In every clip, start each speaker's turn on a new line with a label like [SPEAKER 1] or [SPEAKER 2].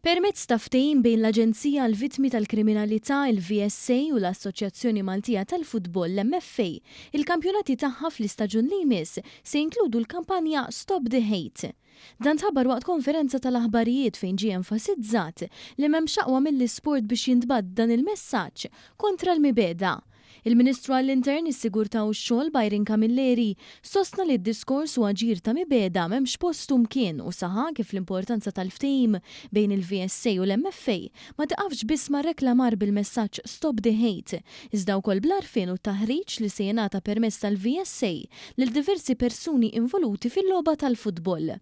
[SPEAKER 1] Permezz ta' ftehim bejn l-Aġenzija għall-Vittmi tal-Kriminalità, il-VSA, u l-Assoċjazzjoni Maltija tal-Futbol, l-MFA, il-kampjonati tagħha fl-istaġun li jmiss se jinkludu l-kampanja Stop the Hate. Dan tħabbar waqt konferenza tal-aħbarijiet fejn ġie enfasizzat li m'hemmx aqwa mill-isport biex jintbagħat dan il-messaġġ kontra l-mibegħda Il-Ministru għall-Intern, is-Sigurtà u x-Xogħol Byron Camilleri sostna li d-diskors u aġir ta' mibegħda m'hemmx post u mkien u saħaq kif l-importanza tal-ftehim bejn il-VSA u l-MFA ma tiqafx biss mar-reklamar bil-messaġġ Stop the Hate iżda wkoll bl-għarfien u t-taħriġ li se jingħata permezz tal-VSA lil diversi persuni involuti fil-logħba tal-futbol.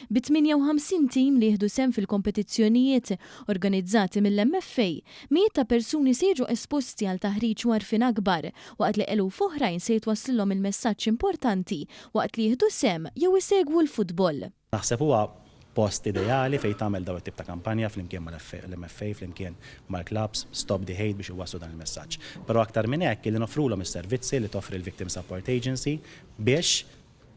[SPEAKER 1] bi 58 tim li jieħdu sehem fil-kompetizzjonijiet organizzati mill-MFA, mijiet ta' persuni se jiġu esposti għal taħriġ u għarfien akbar, waqt li eluf oħrajn se jitwasslilhom il-messaġġ importanti waqt li jieħdu sehem jew isegwu l-futbol. Naħseb huwa
[SPEAKER 2] post ideali fejn tagħmel dawn it-tip ta' kampanja flimkien mal-MFA, flimkien mal-klabbs, Stop the Hate biex iwasslu dan il-messaġġ. Però aktar minn hekk, illi noffrulhom is-servizzi li toffri l-Victim Support Agency biex,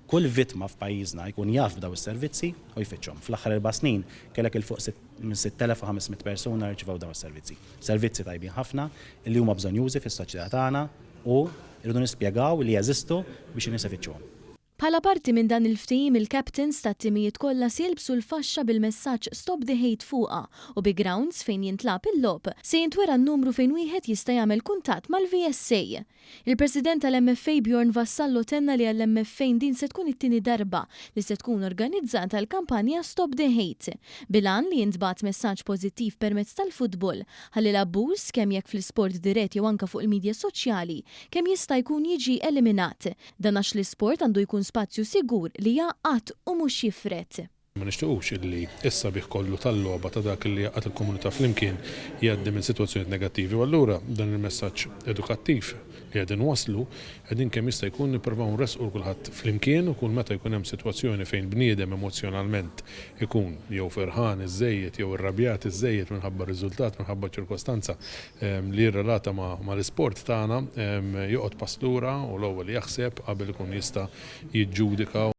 [SPEAKER 2] Kull vittma f'pajjiżna jkun jaf b'dawn is-servizzi u jfittxhom. Fl-aħħar erba' snin kellek 'il fuq minn 6,500 persuna rċivew dawn is-servizzi. Servizzi tajbin ħafna li huma bżonjużi fis-soċjetà tagħna u rridu nispjegaw li jeżistu biex in-nies ifittxuhom. Bħala parti minn
[SPEAKER 1] dan il-ftehim il-captains tat-timijiet kollha se jilbsu l-faxxa bil-messaġġ Stop the Hate fuqha u bi grounds fejn jintlagħab il-logħob se jintwera n-numru fejn wieħed jista' jagħmel kuntatt mal-VSA. Il-President tal-MFA Bjorn Vassallo tenna li għall-MFA din se tkun it-tieni darba li se tkun organizzata l-kampanja Stop the Hate, bil-għan li jintbagħat messaġġ pożittiv permezz tal-futbol ħalli l-abbuż, kemm jekk fl-isport dirett jew anke fuq il-midja soċjali, kemm jista' jkun jiġi eliminat. Dan għax l-isport għandu jkun spazju sigur li jgħaqqad u mhux jifred. Ma nixtiequx
[SPEAKER 3] illi s-sabiħ kollu tal-logħba ta' dak li jgħaqqad il-komunità flimkien jgħaddi minn sitwazzjonijiet negattivi u allura b'dan il-messaġġ edukattiv li qegħdin nwasslu qegħdin kemm jista' jkun nipprovaw nressqu kulħadd flimkien u kull meta jkun hemm sitwazzjoni fejn bniedem emozzjonalment ikun jew ferħan iżżejjed jew irrabjat iżżejjed minħabba riżultat, minħabba ċirkostanza li jirrelata mal-isport tagħna joqgħod pass lura u l-ewwel jaħseb qabel ikun jista' jiġġudika